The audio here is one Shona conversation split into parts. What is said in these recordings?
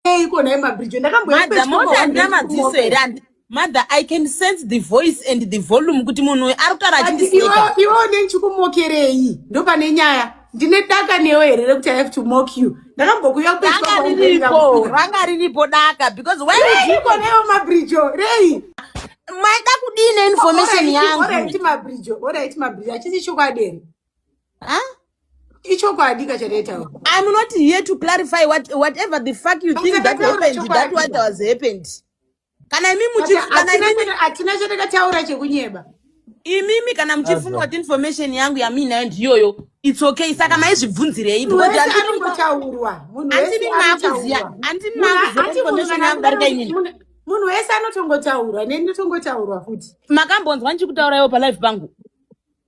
Eiko naye mabridge ndakamboenda Mother, pedyo mother handina kuhamba madziso kumoto. here handi- mother i can sense the voice and the volume kuti munhu uyu ari kutaura But achindiseka iwe- iwe une ndichikumokerei ndopane nyaya ndine daka newe here rekuti i have to mock you ndakambokuya pedyo ranga kuhamba riripo kumoto. ranga riripo daka because why would you- Eiko naye mabridge rei maida kudii neinformation yangu Alright, mabridge alright mabridge achisi chokwadi here huh? ichokwadi ka chataitaura i'm not here to clarify what, whatever the fuck you think that happened that what was happened kana imi muchiatina chatakataura chekunyeba imimi kana muchifunga kuti information yangu yamiinayo ndiyoyo its okay saka maizvibvunzirei anongotaurwa andimi makuziva andimi makuziva information yangu darika inini munhu wese anotongotaurwa neni ndotongotaurwa futi makambonzwa ndichikutauraiwo palive pangu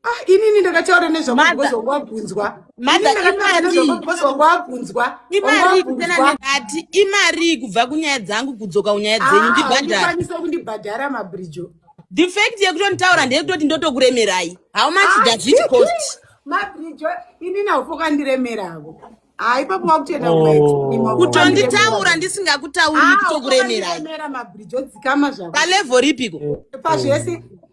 Ah, inini ndakataura nezvamazvawabvunzwa ndakatauraaabvunzwa imarii imarii kubva kunyaya dzangu kudzoka kunyaya ah, dzenyu ndibhadharakwanisa kundibhadhara mabrijo the fact yekutonditaura ndeyekutoti ndotokuremerai how much ah, does it cost mabrijo inini haufokandiremeravo haipapo wakutenda oh. kutonditaura ndisingakutauri kutokuremerai palevo ripiko pazvese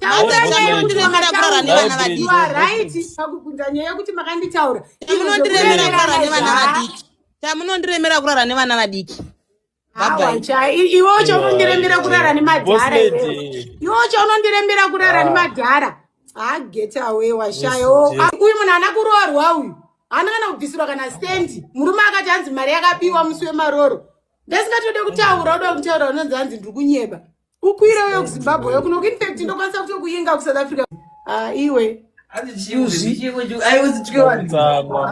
munondiremera kurara nevana vadiki pakubvunza nyaya yekuti makanditaura munondiremera kurara nevana vadiki chamunondiremera kurara nevana vadiki iwe ucho unondirembera kurara nemadhara iwe ucho unondirembera kurara ah. nemadhara haget ah, away washaya oh, ah, uyu munhu ana kuroorwa uyu haana kana kubvisirwa kana stendi murume akati hanzi mari yakapiwa musi wemaroro ndesingatode kutaura uda kutaura unonzi hanzi ndiri kunyeba ukwira uyo kuzimbabwe yo kunoku infact ndokwanisa kuto kuinga kusouth africa ah, iwe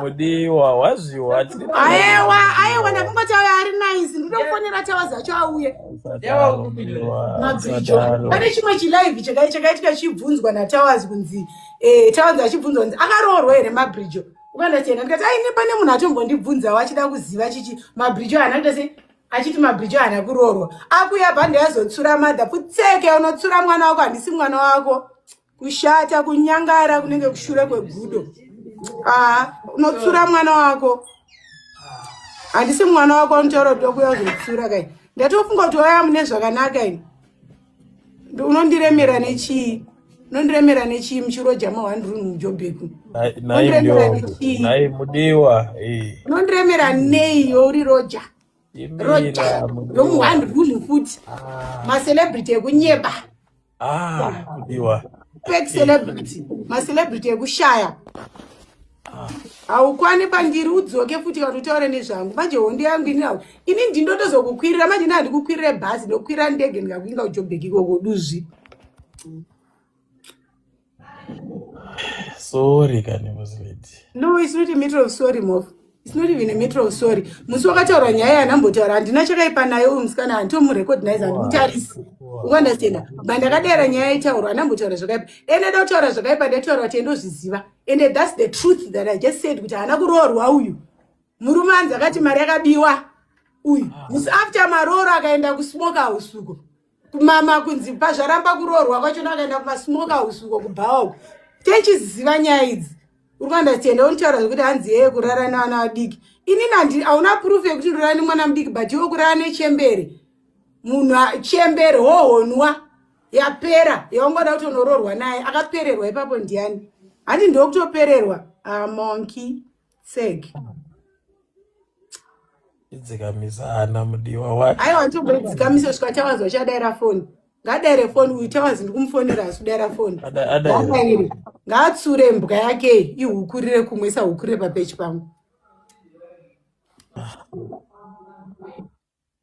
mudiwa wazviwa aewa aewa ndakungo tawa ari nice ndinofonera tawa zacho auye mabvijo pane chimwe chilive chakaitika chibvunzwa natawas kunzi eh, tawas achibvunzwa kunzi akaroorwa here mabridjo ukanasiyana ndikati aine pane munhu atombondibvunzawo achida kuziva chichi mabridjo haana kuita sei achiti mabhijo haana kuroorwa akuya bhande azotsura madha putseke unotsura mwana wako handisi mwana wako kushata kunyangara kunenge kushura kwegudo aa unotsura mwana wako handisi mwana wako unotaura kuti wakuya uzotsura kai ndatofunga kuti waya mune zvakanaka ini unondiremera nechii unondiremera nechii muchiroja mawandirun mujobheku mudiwa eh. unondiremera nei youri roja roja yomuwandirun futi ah. macelebrity ekunyeba ah, mudiwa fake celebrity macelebrity ekushaya haukwani pandiri udzoke futi kana utaure nezvangu manje hondo yangu ini nau ini ndindotozokukwirira manje ndandikukwirire bhazi ndokwirira ndege ndikakuinga kujoburg ikoko duzvi sorry kani musledi no it's not a matter of sorry mof it's not even a matter of sorry musi wakataura nyaya yanambotaura handina chakaipa naye uyu musikana handitomurecognize handimutarisi ukuandastenda bandakadaira nyaya yaitaurwa anambotaura zvakaipa dai ndada kutaura zvakaipa ndaitaura kuti endozviziva and thats the truth that i just said kuti haana kuroorwa uyu murume anzi akati mari yakabiwa uyu musi ah. after marooro akaenda kusmoke house uko kumama kunzi pazvaramba kuroorwa kwacho nakaenda kumasmoke house uko kubhawa uko techiziva nyaya idzi uri kuandastenda unotaura zvekuti hanzi yeye kurara nevana vadiki inini hauna proof yekuti ndorara nemwana mudiki but iwe kurara nechembere munhu chembere hohonwa yapera yaungoda kuti unoroorwa naye akapererwa ipapo ndiani handi ndokutopererwa amonki ah, sek idzikamisana mudiwa wake aiwa nditogodzikamisa svika chawanzwa chadaira foni ngadaire foni uyu chawanzi ndikumufonera asi kudaira foni adaire ngaatsure mbwa yake ihukurire kumwe isahukurire papechi pangu ah.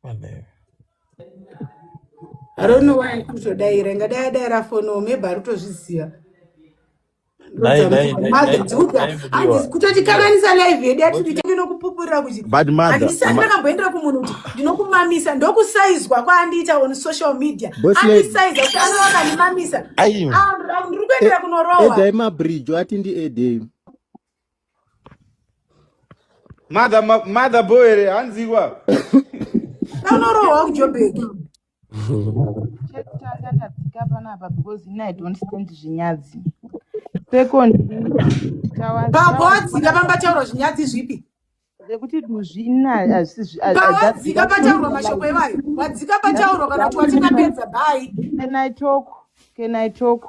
Amen. I don't know why kutodaira ingadai adaira fono maybe ari kutozviziva Dai dai dai mother dai dziudza dai hanzi mudiwa. Mudiwa. kutotikanganisa live yedu yatiriita ndinokupupurira kuti But mother, handisati ma, ndakamboendera kumunhu kuti ndinokumamisa ndokusaizwa kwaandiita on social media boss lady, andisaiza kuti anova akandimamisa Aiwa. Ah, ndiri e- kuendera kunorohwa edai mabridge ati ndiedei. Mother, ma- mother boy here hanziwa Anorohwa kuJobheki. Chekutanga ndadzika panapa because ini I don't stand zvinyadzi. Second, tawa- Baba tawa- wadzika pamba chaurwa zvinyadzi zvipi? zvekuti duzvi ina hazisizvipawadzika pataurwa mashoko evayo wadzika pataurwa kana kuti watingapedza bai can i talk can i talk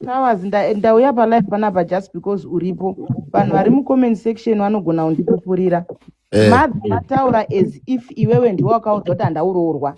towers ndauya palife panapa just because uripo vanhu vari mucomment section vanogona kundipupurira eh. mabvi ataura as if iwewe ndiwe wakaudzwa kuti handauroorwa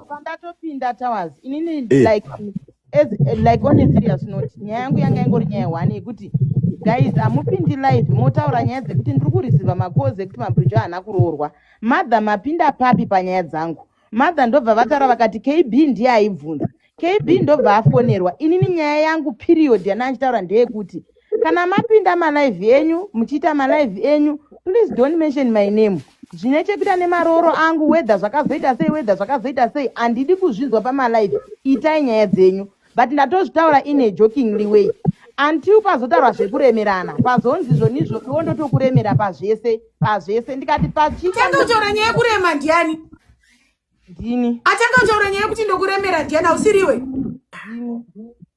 pandatopinda towers inini eh. like as like on a serious note nyaya yangu yanga ingori nyaya one yekuti guys hamupindi live motaura nyaya dzekuti ndiri kurisiva makozi ekuti mabridge haana kuroorwa mother mapinda papi panyaya dzangu mother ndobva vataura vakati kb ndiye aibvunza kb ndobva afonerwa inini nyaya yangu period yandanga ndichitaura ndeyekuti kana mapinda malive enyu muchiita malive enyu please don't mention my name zvine chekuita nemarooro angu wedha zvakazoita sei wedha zvakazoita sei handidi kuzvinzwa pamalive itai nyaya dzenyu but ndatozvitaura ine jokingly way until pazotaurwa zvekuremerana pazonzi zvonizvo iwo ndotokuremera pazvese pazvese ndikati pachiaotaura nyaya yekurema ndiani ndini atanga kutaura nyaya yekuti ndokuremera ndiani ausiriwe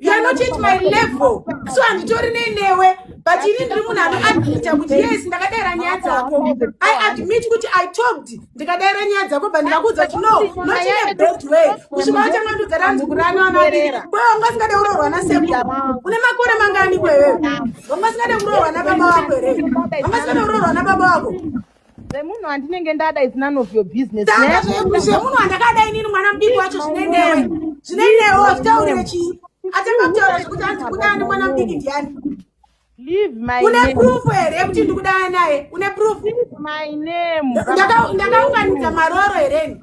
You are not at my level. So handitori nenewe but ini ndiri munhu anoadmita kuti yes ndakadaira nyaya dzako i admit kuti i talked ndikadaira nyaya dzako but ndikakuudza kuti no not in a bad way kusvika watanga ndudza ranzi kurani vana vadiki kwewe wanga usingade kuroorwa naseku une makore mangani kwewewe wanga usingade kuroorwa nababa wako here wanga usingade kuroorwa nababa wako Zvemunhu andinenge ndada is none of your business. Saka zve- zvemunhu andakada inini mwana mudiki wacho zvine newe zvine newe wazvitaurire chii atanga kutaura zvekuti anzi kuda ani mwana mudiki ndiani Leave my une name. proof here yekuti ndikuda naye une proof Leave my name. Ndaka- ndakaunganidza maroro here ini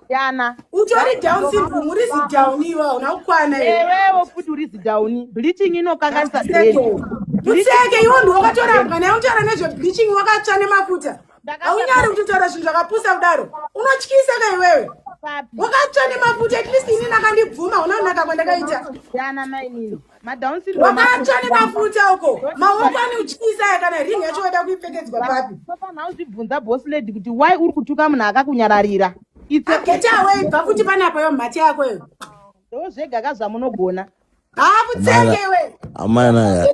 Yana. Utori down syndrome, uri zi down iwe hauna kukwana iwe. Ewewo futi uri zi down. Bleaching inokanganisa brain. Tutseke iwe ndiwe wakatorambwa naye utaura nezve bleaching wakatsva nemafuta. Haunyari kutotaura zvinhu zvakapusa kudaro. Unotyisa ka iwewe. Wakatsva nemafuta at least ini nakandibvuma unaonaka kwandakaita. Yana mainini. wakatsva nemafuta uko maoko ane uchiisaya kana ring yacho waida kuipfekedzwa papi panofanira kuzvibvunza boss lady kuti why uri kutuka munhu akakunyararira get away bva futi panapa yo mhati yako yo ndozvega ka zvamunogona haa kutsenge iwe amana ya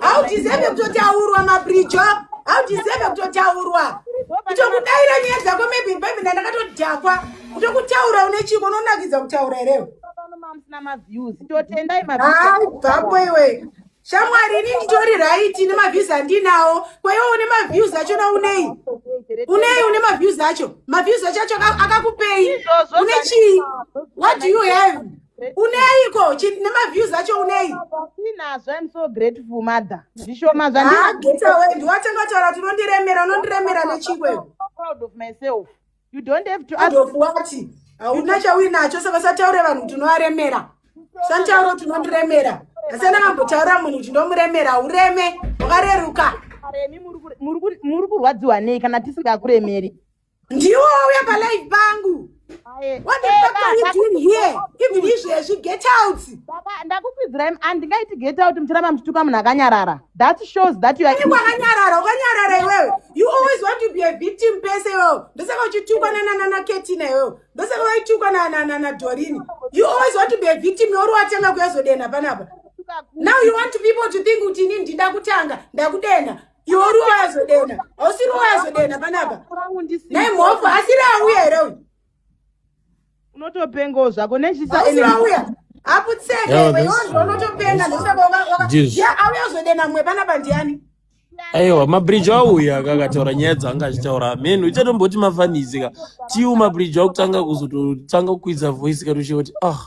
haudizeve kutotaurwa mabrijo haudizeve kutotaurwa kutokudaira nyaya dzako maybe maybe ndandakatodhakwa kutokutaura une chiko unonakidza kutaura herewe bvapo iwe shamwari ini nditori raiti nemaviews andinawo kwaiwo une maviews achona unei unei une maviews acho maviews acho acho akakupei une chii what do you have uneiko chi- nemaviews acho unei Ndinazvo, I'm so grateful mother. Zvishoma zvandiri haa gita wendi watanga kutaura kuti unondiremera unondiremera nechingwe so proud of myself. You don't have to ask adofu wati hauna chauinacho saka usataure vanhu kuti unovaremera usanditaure kuti unondiremera asi andakambotaura munhu kuti ndomuremera haureme wakareruka Karemi, muri kure- muri kure- muri kurwadziwa nei kana tisingakuremeri ndiwo wauya palive pangu what the fuck are you doing here even izvezvi get out ndakukwidzirai handingaiti get out muchiramba muchituka munhu akanyarara that shows that you are wakanyarara ukanyarara iwewe you always want to be a victim pese iwewe ndosaka uchitukwa nanana ketina iwewe ndosaka waitukwa nanana dorini you always want to be a victim yauri watanga kuyazodenha panapa now you want people to think kuti ini ndida kutanga ndakudenha iwo ruwa azodena hausi ruwa azodena panapa nai mhofu asiri auya here uyu unotopengawo zvako nechisiauya aiwa mabridge auya akakataura nyaya dzanga achitaura amen uchatomboti mafanizika tiu mabridge akutanga kuzototanga kukwidza voice kati uchoti ah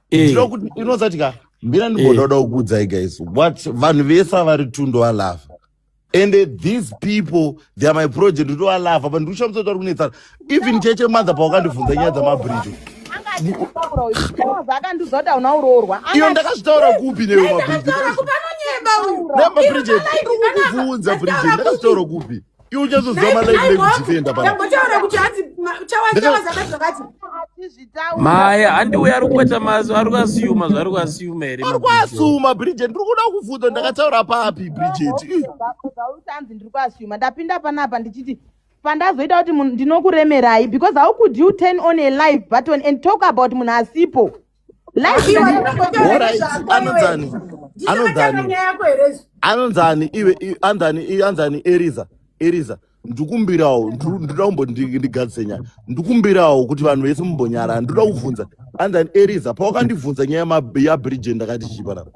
Eh. ndinozatika mbira ndimbododa eh. kukuudzai guys what vanhu vese avari two ndowalafa and these people they are my project ndowalafa but ndikushamisa kuti vari kunetsana even cheche mother pawakandibvunza nyaya dzamabridge akandiudza kuti hauna uroorwa iyo ndakazvitaura kupi newe mabridge ndakazvitaura kupi iwe uchazoziva malife lekutienda pana Ndambotaura kuti hanzi ma- chawa chawa zaka zvakati. Hatizvitaure. maya handiwe ari kuita mazo ari kuasiyuma zvaari kuasiyuma here ari kuasuma bridget ndiri kuda kubvunza ndakataura papi bridget Ih, ndakuzautanzi ndiri kuasuma ndapinda panapa ndichiti pandazoita kuti munhu ndinokuremerai because how could you turn on a live button and talk about munhu asipo anonzani anonzani anonzani iwe anzani anzani eriza eriza ndikumbirawo ndoda kumbondigadzise nyaya ndikumbirawo kuti vanhu vese mumbonyara ndoda kuvhunza anzani eriza pawakandivhunza nyaya yabridgen ndakati chii panapa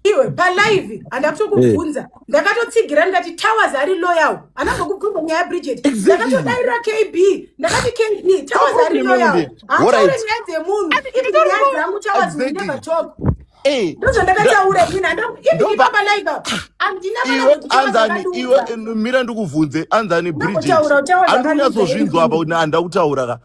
iwe palive handa kutokubvunza eh. ndakatotsigira ndikati towers ari loyal hana kukubvunza nyaya yabridget ndakatodairira kb ndakati kb towers ari loyal hataure nyaya dzemunhu ivi nyaya dzangu towers will never talk eh. ndozvandakataura ina ipapalive andinamira ndikubvunze anzani bridget andinyatsozvinzwa apa kuti handa kutaura ka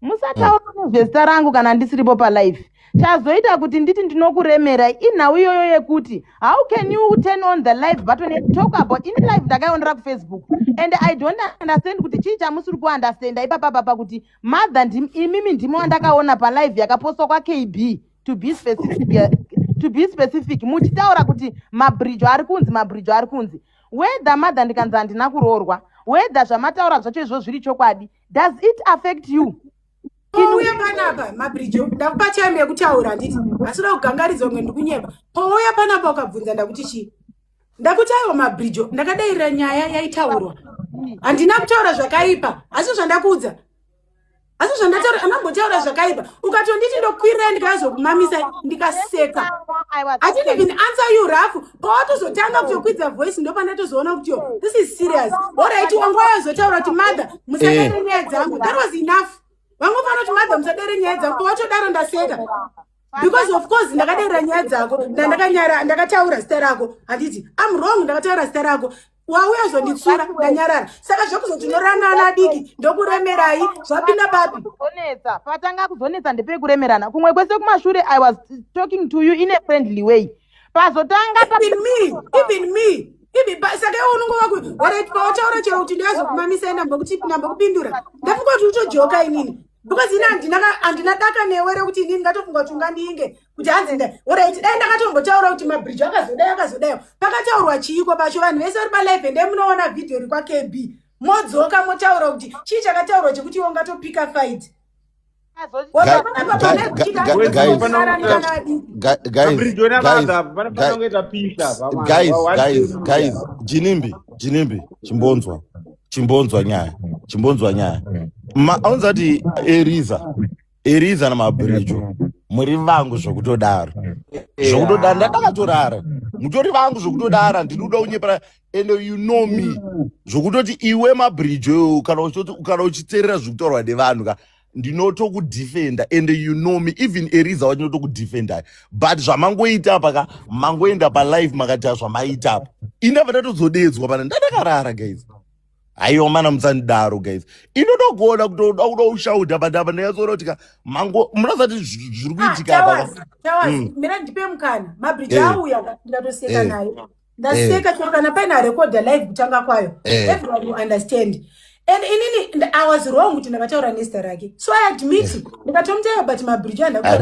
musataura nezvezita rangu kana ndisiripo palife chazoita kuti nditi ndinokuremerai inhau iyoyo yekuti how can you turn on the live button and talk about ini live ndakaionera kufacebook and i don't understand kuti chii chamusiri kuunderstanda ipapa papa kuti mother ndim, imimi ndimo wandakaona palive yakapostwa kwakb to be specific to be specific muchitaura kuti mabridge ari kunzi mabridge ari kunzi whether mother ndikanzi handina kuroorwa whether zvamataura zvacho izvo zviri chokwadi does it affect you pouya panapa mabrijo ndakupa time yekutaura handiti asi uda kugangaridzwa kunge ndikunyeba pouya panapa ukabvunza ndakuti chii ndakuti aiwa mabrijo ndakadairira nyaya yaitaurwa handina kutaura zvakaipa asi zvandakuudza asi zvandataura anambotaura zvakaipa ukatonditi ndokwirira ndikazokumamisa ndikaseka i didn't even answer you rafu pawatozotanga kutokwidza voice ndopandatozoona kuti yo this is serious orit wanga wayozotaura kuti mother musadare eh. nyaya dzangu that was enough vamwe fana kuti mother musadare nyaya dzangu pawatodaro ndaseka because of course ndakadaira nyaya dzako ndandakanyara ndakataura zita rako handiti am wrong ndakataura zita rako wauya azonditsura ndanyarara saka zvekuzoti unorana ana adiki ndokuremerai zvapinda papi kuzonetsa patanga kuzonetsa ndepei kuremerana kumwe kwese kumashure i was talking to you in a friendly way pazotanga even me even me saka iwe unongo wakuti pautaura chero kuti ndiazokumamisa inamba kutipinamba kupindura ndafungoti utojoka inini because ini handina handina daka newe rekuti ini ndingatofunga kuti ungandinge kuti hanzi nda orit dai ndakatombotaura kuti mabridge akazodai akazodaio pakataurwa chiiko pacho vanhu vese vari palive ndee munoona vhidhiyo ri kwakb modzoka motaura kuti chii chakataurwa chekuti iwe ungatopika fight jinimbi jinimbi chimbonzwa chimbonzwa nyaya chimbonzwa nyaya aunza kuti eriza eriza namabhirijo muri vangu zvokutodaro zvokutodaro ndakakatorara mutori vangu zvokutodara ndiri kuda kunyepera and you know me zvokutoti iwe mabhirijo kana uchiterera zvokutaurwa nevanhu ka ndinotokudefenda and you know me even eriza wacho ndinotokudefenda but zvamangoita apa ka mangoenda palive makaita zvamaita apa indava ndatozodedzwa pana ndadakarara guys haiwa mana musandidaro guys inoda kuona kutoda kuda kushauta but apa ndinyatsona kuti ka mango munazati zviri ah, kuitika apa ka mm. mira ndipe mukana mabridge eh. auya ndikatoseka eh. naye ndaseka chero kana paina recorder live kutanga kwayo eh. everyone will understand and inini i was wrong kuti ndakataura nezita rake so i admit eh. ndikatomutaiwa but mabridge andakuaa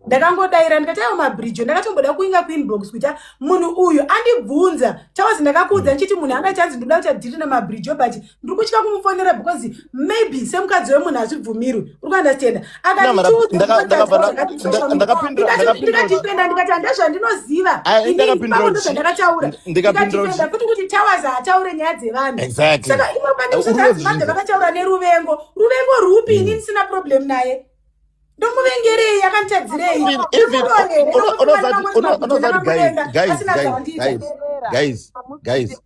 ndakangodaira ndikataiwa mabridge ndakatomboda kuinga kuinbox kuita munhu uyu andibvunza chawas ndakakuudza mm. ndichiti munhu anga chanzi ndoda kuita dhiri namabridge but ndiri kutya kumufonera because maybe semukadzi wemunhu hazvibvumirwi uri kuunderstanda akandikatipenda ndikati handa zvandinoziva ndakataurandikatipenda futi kuti towers haataure nyaya dzevanhu saka imwe pandikusaazimabve vakataura neruvengo ruvengo rwupi ini ndisina problem naye ndomuvengerei akanditadzirei unozati guys guys guys guys guys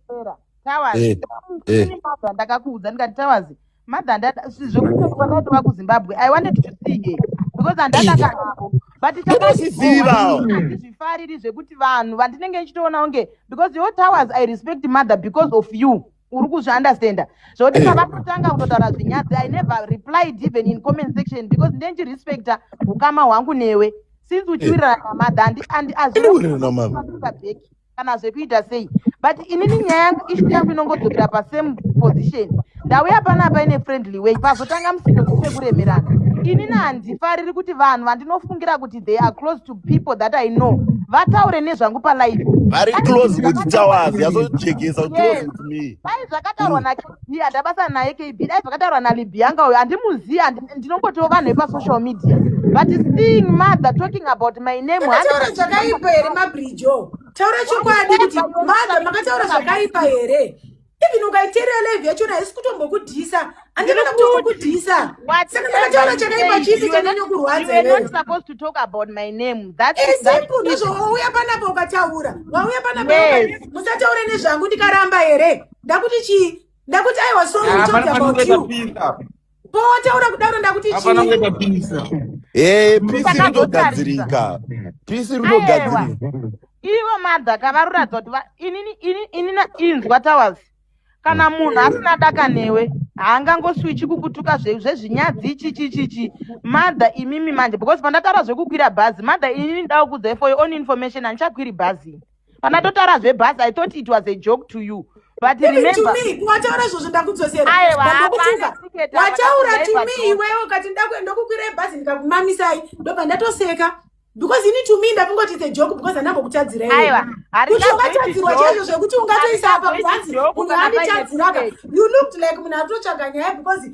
Towers. Eh, eh. Ini mother ndakakuudza ndikati Towers. Mother ndada zvekuti kwakaita vaku Zimbabwe. I wanted to see her because andada kanako. But chandozviziva. Zvifariri zvekuti vanhu vandinenge ndichitoona unge because your Towers I respect mother because of you. uri kuzviunderstanda zvokuti pavatotanga kutotaura zvinyadzi i never replied even in comment section because ndendirespecta ukama hwangu newe since uchiwirirana namadha andiazviaback kana zvekuita sei but inini nyaya yangu ishu yangu inongodzokera pasame position ndauya pana paine friendly way pazotanga musindo kufe kuremerana inini handifariri kuti vanhu vandinofungira kuti they are close to people that i know vataure nezvangu palife vari close kuti tawazi yazojekesa close with me pai zvakataurwa na Hii andabasa naye KB dai zvakataurwa naLibianca uyo andimuzivi ndinongotiwo vanhu vepasocial media but seeing mother talking about my name taura zvakaipa here mabrijo taura chokwadi kuti mother makataura zvakaipa here even ukaiteerera live yacho haisi kutombokudhisa andivana kutokudhisa saka ndakataura chakaipa chipi chanyanya kurwadzaesimple ndozvowauya panapa ukataura wauya panapa musataure nezvangu ndikaramba here ndakuti chii ndakuti i was sorry to talk about you potaura kudaro ndakuti chii Eh, pisi Saka rinogadzirika. Pisi Aiwa. rinogadzirika. ivo madha kavaruradza kuti va- inini ini- ini na- inzwa towers kana munhu asina daka newe haangangoswichi kukutuka zve- zvezvinyadzi chichichichi madha imimi manje because pandataura zvekukwira bhazi madha inini ndaukudzai for your own information handichakwiri bhazi kana totaura zvebhasi i thought it was a joke to you but remember wataura izvozvo ndakudzosera wataura to me iwewe ukati ndokukwira ebhazi ndikakumamisai ndobva ndatoseka because ini to me ndakungoti the joke because andambokutadzira kuti ungatadzirwa chaizvo zvekuti ungatoisa apa kuhanzi munhu anditadziraka you looked like munhu atotsvaga nyaya because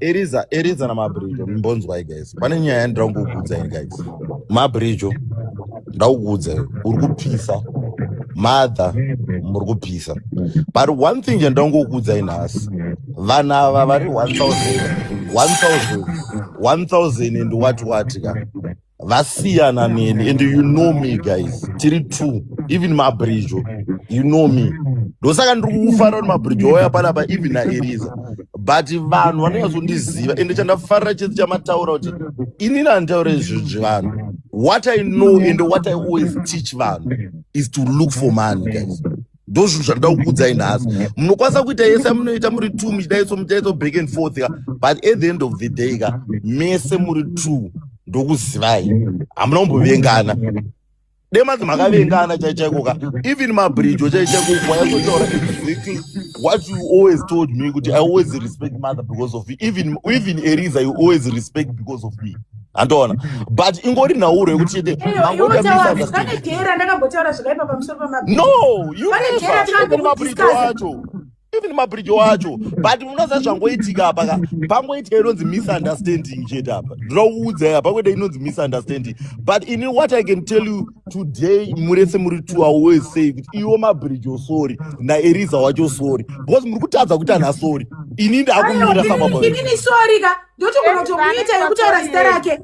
Eriza, Eriza na Mabrijo, mbonzwai guys. Pane nyaya yandira kukuudza ini guys. Mabrijo, ndakuudza iwe, uri kupisa. Mother, muri kupisa. But one thing yandira kukuudza ini nhasi. Vana ava vari 1000, 1000, 1000 and what what ka. vasiyana neni and you know me guys tiri two even mabridge you know me ndosaka ndiri kukufarira kuti mabridge wauya panapa even naeriza but vanhu vanonyazondiziva ende chandafarira chese chamataura kuti inini handitaure zvinhu zvevanhu what i know and what i always teach vanhu is to look for money guys ndozvinhu zvandoda kukuudzai nhasi munokwanisa kuita yese munoita muri two muchidaiso muchaiso back and forth ka but at the end of the day ka mese muri two ndokuzivai hamuna kumbovengana demanzi makavengana chaichaiko ka even mabridge chaichaiko wayazotaura exactly what you always told me kuti i always respect mother because of you even even eriza you always respect because of me handoona but ingori nhauro yekuti wacho even mabridge wacho but unoziva zvangoitika apa ka pangoitika inonzi misunderstanding chete apa ndinokuudzai apa kwete inonzi misunderstanding but ini what i can tell you today murese muri two away say kuti iwo mabridge osori naeriza wacho sori because muri kutadza kuita nhasori ini ndakumira sababa ndotogona kutomuita yekutaura zita rake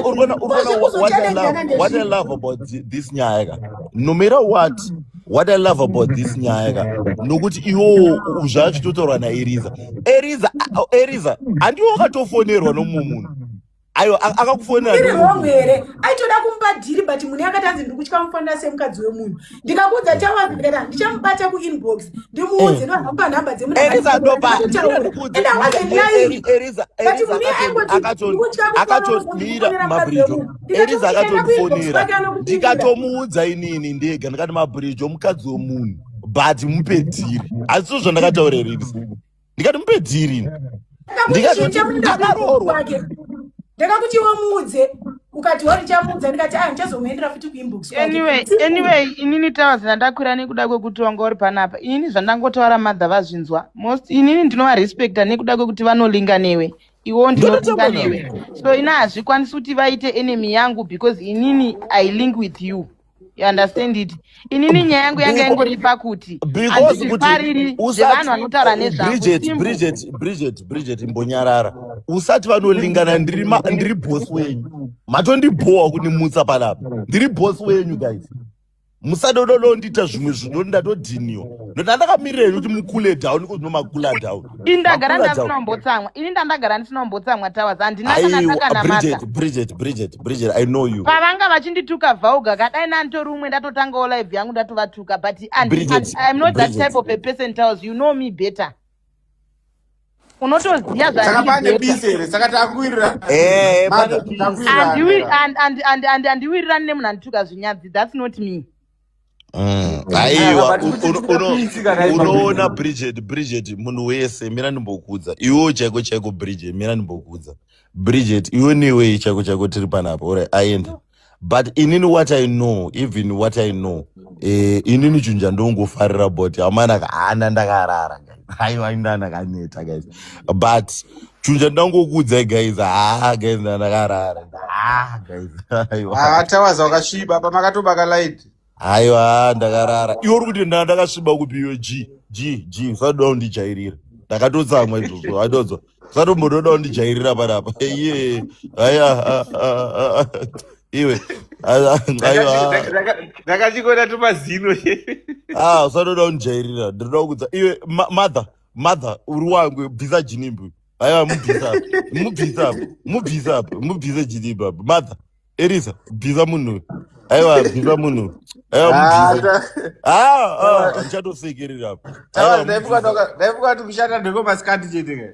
urikuona what i love about this nyaya ka no matter what what i love about this nyaya ka nokuti iwowo zvaachitotaurwa naeriza eriza eriza handiwo wakatofonerwa nomumwe munhu ayo akakufonerairi wrong here aitoda kumupa dhiri but mune akati anzi ndiri kutya mufanira semukadzi wemunhu ndikakuudza tawazera ndichamubata kuinbox ndimuudze nohamba nhamba dzemunuakatondira mabridge Eliza akatondifonera ndikatomuudza inini ndega ndikati mabridge omukadzi womunhu but mupe dhiri asi so zvandakataura here Eliza ndikati mupe dhiri ini ndikatoti ndakaroorwa ndakakuti wamuudze ukati wari chamuudza ndikati a ah, ndichazomuendera futi kuinbox anyway anyway inini tawa zvandakwira nekuda kwekuti wanga uri panapa inini zvandangotaura madha vazvinzwa most inini ndinovarespecta nekuda kwekuti vanolinga newe iwo ndinotonga newe so ina hazvikwanisi kuti vaite enemy yangu because inini i link with you you understand it inini nyaya yangu yanga yangori pakuti andizvifariri zvevanhu vanotaura nezvabridget imbonyarara usati vanolingana ndiri boss wenyu matondibhowa kunimutsa panapa ndiri boss wenyu guys musadododondiita zvimwe zvinhu ndatodhiniwa ndoda ndakamirirei kuti mukule down iko zvino makula down ini ndagara ndasinombotsamwa ini ndandagara ndisinombotsamwa towers handinaaaaaabrigetbrigetbrigetbriget i know you pavanga vachindituka vauga kadai nanditori umwe ndatotangawo live yangu ndatovatuka but iam not that type of a person towers you know me better unotoziva saka pane bisi here saka takuwirira eh, andiwirirani nemunhu andituka zvinyadzi thats not me mm. aiwa unoona bridget bridget munhu wese mira ndimbokuudza iwewo chaiko chaiko bridget mira ndimbokuudza bridget iwe newei chaiko chaiko tiri panapa ora aenda but inini what i know even what i know eh, inini chinhu chandongofarira but amana kaana ndakarara aiwa inda ndakaneta guys but chinhu chandangokuudzai guys haa guys nda ndakarara haa guys aiwa Ah, tawaza wakasviba apa makatobaka light Aiwa ndakarara. Iwe uri kuti nda- ndakasviba kupi iwe G G G usatoda kundijairira. Ndakatotsamwa izvozvo waitozwa. Usatombotoda kundijairira panapa. Iye aya ah, ah, ah, ah. iwe ah, ah, aiwa. ndakachikona tumazino Ah usatoda kundijairira. Ndinoda kukudza iwe ma- mother mother uri wangu bvisa jinimbi. Aiwa mubvisa apa. Mubvisa apa. Mubvisa apa. Mubvisa jinimbi apa. Mother Erisa, bhiza munhu uyu. Aiwa, bhiza munhu uyu. Aiwa, Ah, mubhize. ta- Ah, ah, tawana- handichatopfekerera apa. Aiwa, tawana, mubhiza. ndaifunga kuti kushanda ndekwe masikati chete ke.